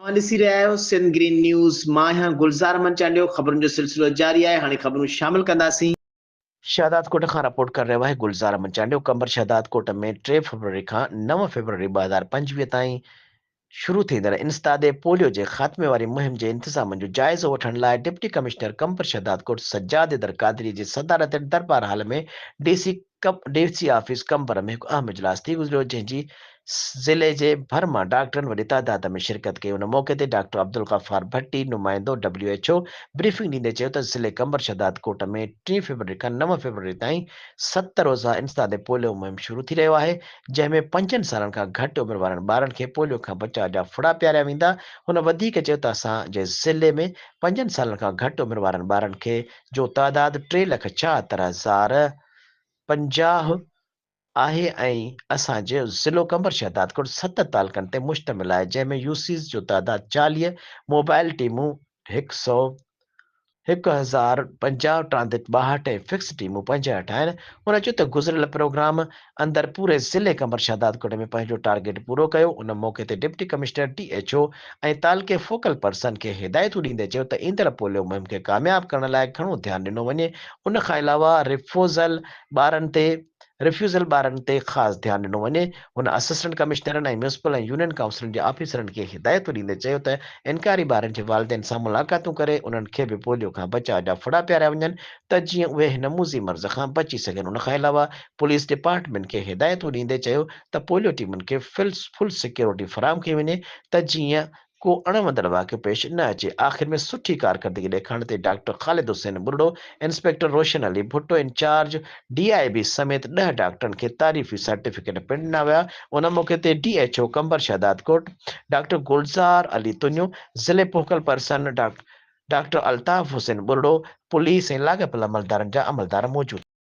اوهان ڏسي رهيا آهيو سنڌ گرين نيوز مان آهيان گلزار احمد چانڊيو خبرن جو سلسلو جاري آهي هاڻي خبرون شامل ڪنداسين. شهدادڪوٽ کان رپورٽ ڪري رهيو آهي گلزار احمد چانڊيو قمبر شهدادڪوٽ ۾ ٽي فيبروري کان نو فيبروري ٻه هزار پنجويهه تائين شروع ٿيندڙ انسداد پوليو جي خاتمي واري مهم جي انتظامن جو جائزو وٺڻ لاء ڊپٽي ڪمشنر قمبر شهدادڪوٽ سجاد حيدر قادري جي صدارت هيٺ Darbar hall ۾ D C D C office Qambar ۾ هڪ اهم اجلاس ٿي گذريو جنهن جي ضلعي جي ڀر مان ڊاڪٽرن وڏي تعداد ۾ شرڪت ڪئي ان موقعي تي ڊاڪٽر عبدالغفار ڀٽي نمائندو ڊبليو ايڇ او بريفنگ ڏيندي چيو ته ضلعي قمبر شهدادڪوٽ ۾ ٽي فيبروري کان نو فيبروري تائين ست روزه انسداد پوليو مهم شروع ٿي رهيو آهي جنهن ۾ پنجن سالن کان گهٽ عمر وارن ٻارن کي پوليو کان بچاء جا ڦڙا پياريا ويندا هن وڌيڪ چيو ته اسان جي ضلعي ۾ پنجن سالن کان گهٽ عمر وارن ٻارن کي جو تعداد ٽي لک ڇاهتر هزار پنجاهه آهي ۽ اسان جو ضلعو قمبر شهدادڪوٽ ست تعلقن تي مشتمل آهي جنهن ۾ يو سيز جو تعداد چاليهه، موبائل ٽيمون هڪ سؤ هڪ هزار پنجاهه، ٽرانزٽ ٻاهٺ ۽ فڪس ٽيمون پنجهٺ آهن. هن چيو ته گذريل پروگرام اندر پوري ضلعي قمبر شهدادڪوٽ ۾ پنهنجو ٽارگيٽ پورو ڪيو، ان موقعي تي deputy commissioner, D H O ۽ تعلقي فوڪل پرسن کي هدايتون ڏيندي چيو ته ايندڙ پوليو مهم کي ڪامياب ڪرڻ لاء گهڻو ڌيان ڏنو وڃي، ان کان علاوه رفوزل ٻارن تي Refusal ٻارن تي خاص ڌيان ڏنو وڃي، هن اسسٽنٽ ڪمشنرن ۽ ميونسپل ۽ يونين ڪائونسلن جي آفيسرن کي هدايتون ڏيندي چيو ته انڪاري ٻارن جي والدين سان ملاقاتون ڪري انهن کي به پوليو کان بچاء جا ڦڙا پياريا وڃن ته جيئن اهي هن موذي مرض کان بچي سگهن، ان کان علاوه پوليس ڊپارٽمينٽ کي هدايتون ڏيندي چيو ته پوليو ٽيمن کي فل سيڪيورٽي فراهم ڪئي وڃي ته جيئن ڪو اڻ وندڙ واقعو پيش نه اچي آخر ۾ سٺي ڪارڪردگي ڏيکارڻ تي doctor Khalid Hussain Barro inspector Roshan Ali Bhutto incharge D I B سميت ڏهه ڊاڪٽرن کي تعريفي سرٽيفڪيٽ پڻ ڏنا ويا ان موقعي تي D H O Qambar Shahdadkot doctor Gulzar Ali Tunio ضلعي focal person doctor Altaf Hussain Barro police ۽ لاڳاپيل عملدارن جا عملدار موجود